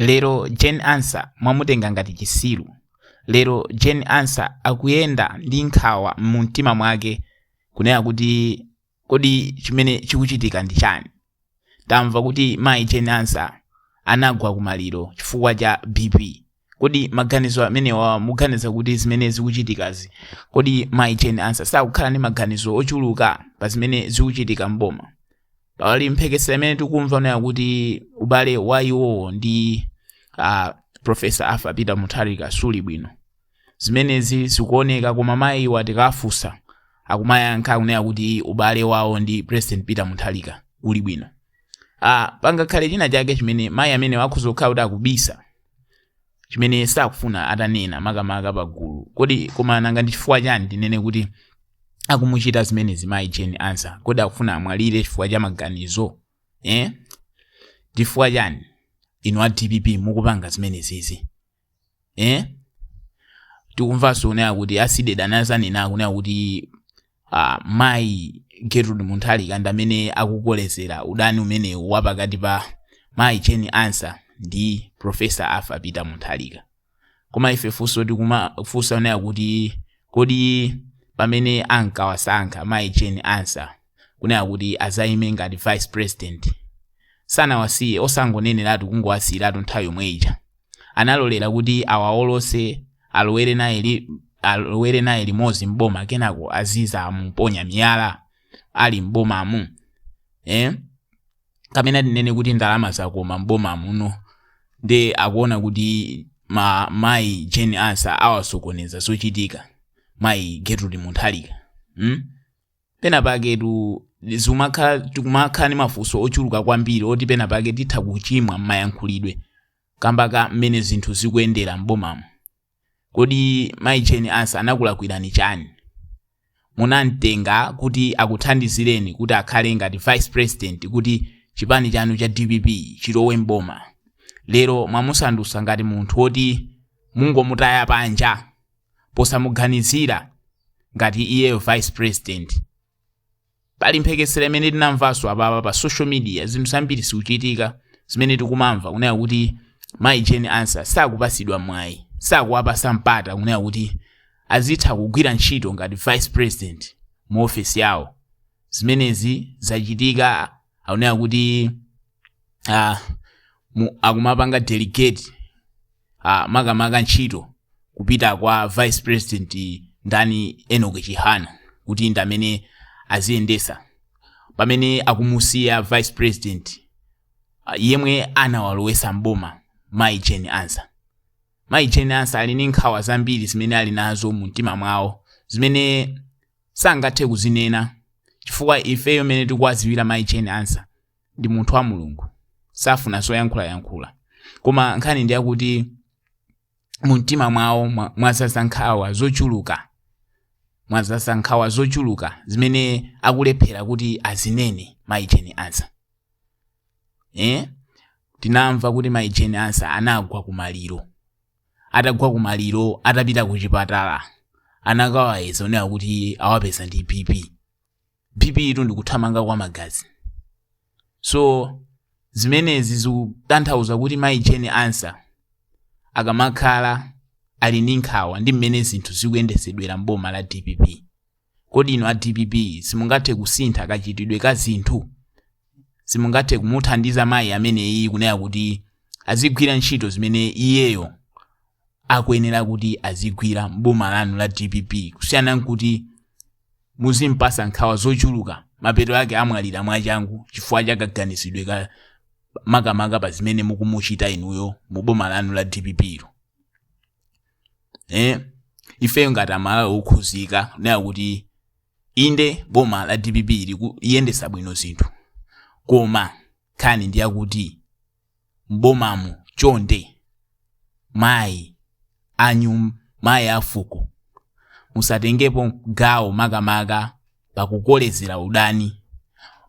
Lero Jane Ansah mwamutenga ngati chisiru. Lero Jane Ansah akuyenda ndi nkhawa mu mtima mwake kunena kuti kodi chimene chikuchitika ndi chani? Tamva kuti mayi Jane Ansah anagwa kumaliro chifukwa cha BP. kodi maganizo amenewa muganiza kuti zimene zikuchitikazi kodi mayi Jane Ansah sakukhala ndi maganizo ochuluka pa zimene zikuchitika mboma pali mphekesera imene tikumva nayo kuti ubale wa iwowo ndi uh, profesa Arthur Peter Mutharika suli bwino zimenezi zikuoneka koma mayi iwo atikafunsa akumayankha akunena kuti ubale wawo ndi President Peter Mutharika uli bwino ah, pangakhale china chake chimene mayi amenewo akhoza kukhala kuti akubisa chimene sakufuna atanena makamaka pagulu kodi koma nanga ndi chifukwa chani tinene kuti akumuchita zimenezi mayi Jane Ansah kodi akufuna amwalire chifukwa cha maganizo eh? chifukwa chani inu a dpp mukupanga zimenezizi eh tikumvanso kunena kuti Aside Dana ananena kunena kuti uh, mayi Gertrude Mutharika ndi amene akukolezera udani umenewu wa pakati pa mayi Jane Ansah ndi profesa Arthur Peter Mutharika koma ife funso tikumafunsa kunena kuti kodi pamene ankawasankha mayi Jane Ansah kunena kuti azayime ngati vice president sanawasiye osangoneneratu kungowasiyiratu nthawi yomwe ija analolera kuti awawolotse alowere naye li, alowere naye limodzi mboma kenako azizamuponya miyala ali mbomamu eh? kapena tinene kuti ndalama zakoma mboma muno nde akuona kuti ma mayi Jane Ansah awasokoneza zochitika mayi Gertrude Mutharika hmm? pena paketu zumakha tikumakhala ni mafunso ochuluka kwambiri oti pena pake titha kuchimwa mmayankhulidwe kamba ka mmene zinthu zikuyendera m'bomamu kodi mayi Jane Ansah anakulakwirani chani munamtenga kuti akuthandizireni kuti akhale ngati vice president kuti chipani chanu cha dpp chilowe m'boma lero mwamusandusa ngati munthu woti mungomutaya panja posamuganizira ngati iyeyo vice president pali mphekesera imene tinamvanso apapa pa social media zinthu zambiri zikuchitika zimene tikumamva kunena kuti mayi Jane Ansah sakupasidwa mwayi sakuwapasa mpata kunena kuti azitha kugwira ntchito ngati vice president mu ofesi yawo zimenezi zachitika akunena kuti ah, mu- akumapanga delegate ah, makamaka ntchito kupita kwa vice president ndani Enoch Chihana kuti ndi amene aziyendesa pamene akumusiya vice president ah, yemwe anawalowesa mboma mayi Jane Ansah mayi Jane Ansah ali ndi nkhawa zambiri zimene ali nazo mu mtima mwawo zimene sangathe kuzinena chifukwa ifeyo mene tikuwaziwira mayi Jane Ansah ndi munthu wa mulungu safuna zoyankhulayankhula koma nkhani ndi yakuti mu mtima mwawo mwa- mwazaza nkhawa zochuluka mwazaza nkhawa zochuluka zimene akulephera kuti azinene mayi Jane Ansah eh? tinamva kuti mayi Jane Ansah anagwa kumaliro atagwa kumaliro atapita ku chipatala anakawayeza kunena kuti awapeza ndi bp bp tu ndikuthamanga kwa magazi so zimenezi zikutanthauza kuti mayi Jane Ansah akamakhala ali ndi nkhawa ndi mmene zinthu zikuyendesedwera mboma la dpp kodi inu a dpp simungathe kusintha kachitidwe ka zinthu simungathe kumuthandiza mayi ameneyi kunena kuti azigwira ntchito zimene iyeyo akuyenera kuti azigwira mboma lanu la dpp kusiyana nkuti muzimpasa nkhawa zochuluka mapeto ake amwalira mwachangu chifukwa cha kaganizidwe ka makamaka pa zimene mukumuchita inuyo mu boma lanu la dpp lo eh? ifeyo ngati amalawi okhuzika kunena kuti inde boma la dpp liyendesa bwino zinthu koma Nkhani ndi yakuti m'bomamu chonde mayi a nyum, mayi a fuko musatengepo gawo makamaka pakukolezera udani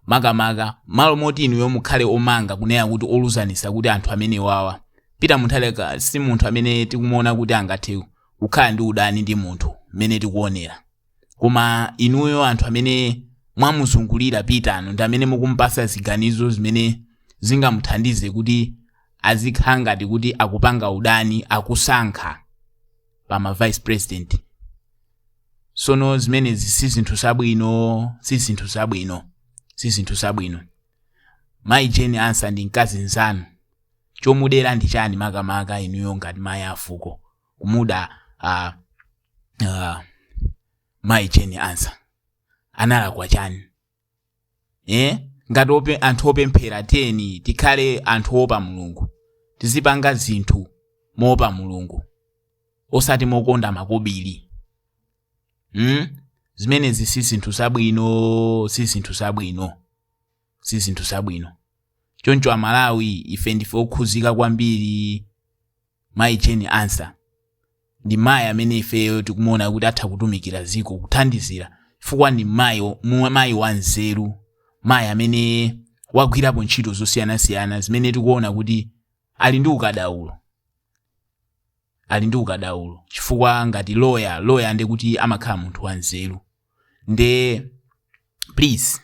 makamaka malo moti inuyo mukhale omanga kunena kuti oluzanisa kuti anthu amenewawa Peter Mutharika si munthu amene tikumuona kuti angathe kukhala ndi udani ndi munthu mmene tikuonera. koma inuyo anthu amene mwamuzungulira Peter nu ndi amene mukumpasa ziganizo zimene zingamuthandize kuti azikhala ngati kuti akupanga udani akusankha pa ma vice president sono zimenezi si zinthu zabwino si zinthu zabwino si zinthu zabwino mayi Jane Ansah ndi mkazi nzanu chomudera ndi chani makamaka inuyo ngati mayi afuko kumuda uh, uh, mayi jane ansah analakwa chani eh? ngati ope, anthu opemphera tiyeni tikhale anthu oopa mulungu tizipanga zinthu moopa mulungu osati mokonda makobiri mm? zimenezi si zinthu zabwino si zinthu zabwino si zinthu zabwino choncho amalawi ife ndife okhuzika kwambiri mayi jane ansah ndi mayi amene ifeyo tikumuona kuti atha kutumikira ziko kuthandizira chifukwa ndi mayi wo- mu- mayi wanzeru mayi amene wagwirapo ntchito zosiyanasiyana zimene tikuona kuti ali ndi ukadaulo ali ndi ukadaulo chifukwa ngati loya loya nde kuti amakhala munthu wanzeru nde please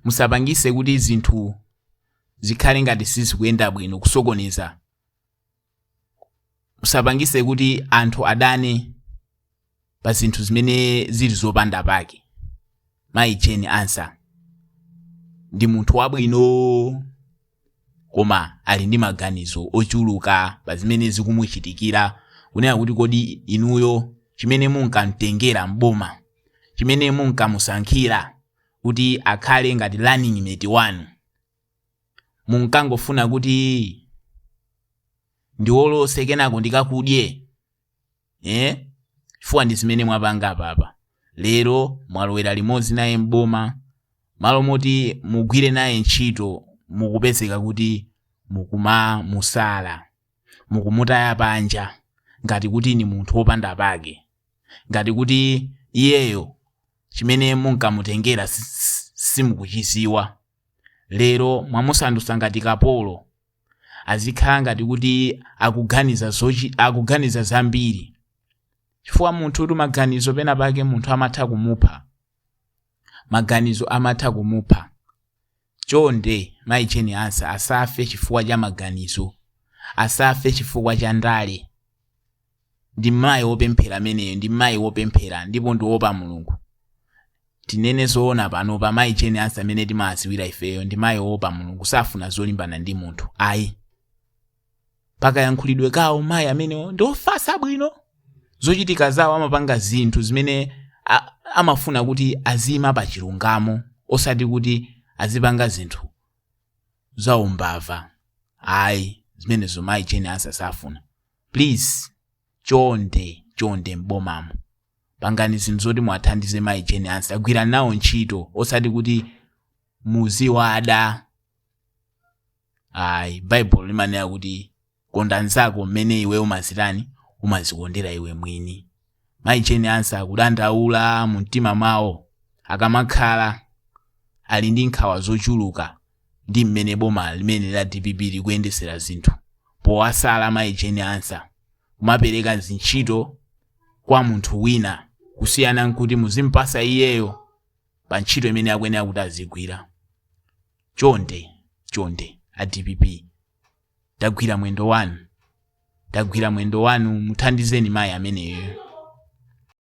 musapangise kuti zinthu zikhale ngati sizikuyenda bwino kusokoneza musapangise kuti anthu adane pa zinthu zimene zili zopanda pake mayi jane ansah ndi munthu wabwino koma ali ndi maganizo ochuluka pa zimene zikumuchitikira kunena kuti kodi inuyo chimene munkamtengera m'boma chimene munkamusankhira kuti akhale ngati running mate wanu munkangofuna kuti ndiwolose kenako ndikakudye eh? chifukwa ndi zimene mwapanga apapa lero mwalowera limodzi naye m'boma malo moti mugwire naye ntchito mukupezeka kuti mukumamusala mukumutaya panja ngati kuti ni munthu wopanda pake ngati kuti iyeyo chimene munkamutengera si- si- simukuchiziwa Lero mwamusandutsa ngati kapolo. Azikhala ngati kuti akuganiza zochi akuganiza zambiri. Chifukwa munthu kuti maganizo pena pake munthu amatha kumupha. Maganizo amatha kumupha. Chonde mayi Jane Ansah asafe chifukwa cha maganizo. Asafe chifukwa cha ndale. Ndi mayi wopemphera ameneyo, ndi mayi wopemphera, ndipo ndi woopa Mulungu. Tinene zoona panopa, mayi Jane Ansah amene timawadziwira ifeyo, ndi mayi woopa Mulungu, safuna zolimbana ndi munthu, ayi. Pakayankhulidwe kawo, mayi amenewo ndi ofatsa bwino. Zochitika zawo amapanga zinthu zimene a- amafuna kuti aziyima pa chilungamo, osati kuti azipanga zinthu zaumbava, ayi, zimenezo mayi Jane Ansah safuna. please chonde chonde m'bomamo pangani zinthu zoti muwathandize mayi jane ansah agwirani nawo ntchito osati kuti muziwada ayi baibulo limanena kuti konda nzako mmene iwe umazitani umazikondera iwe mwini Mayi Jane Ansah akudandaula mu mtima mwawo akamakhala ali ndi nkhawa zochuluka ndi mmene boma limene la dpp likuyendesera zinthu powasala mayi Jane Ansah kumapereka zintchito kwa munthu wina kusiyana nkuti muzimpasa iyeyo pa ntchito imene akuyenera kuti azigwira chonde chonde a dpp tagwira mwendo wanu tagwira mwendo wanu muthandizeni mayi ameneyo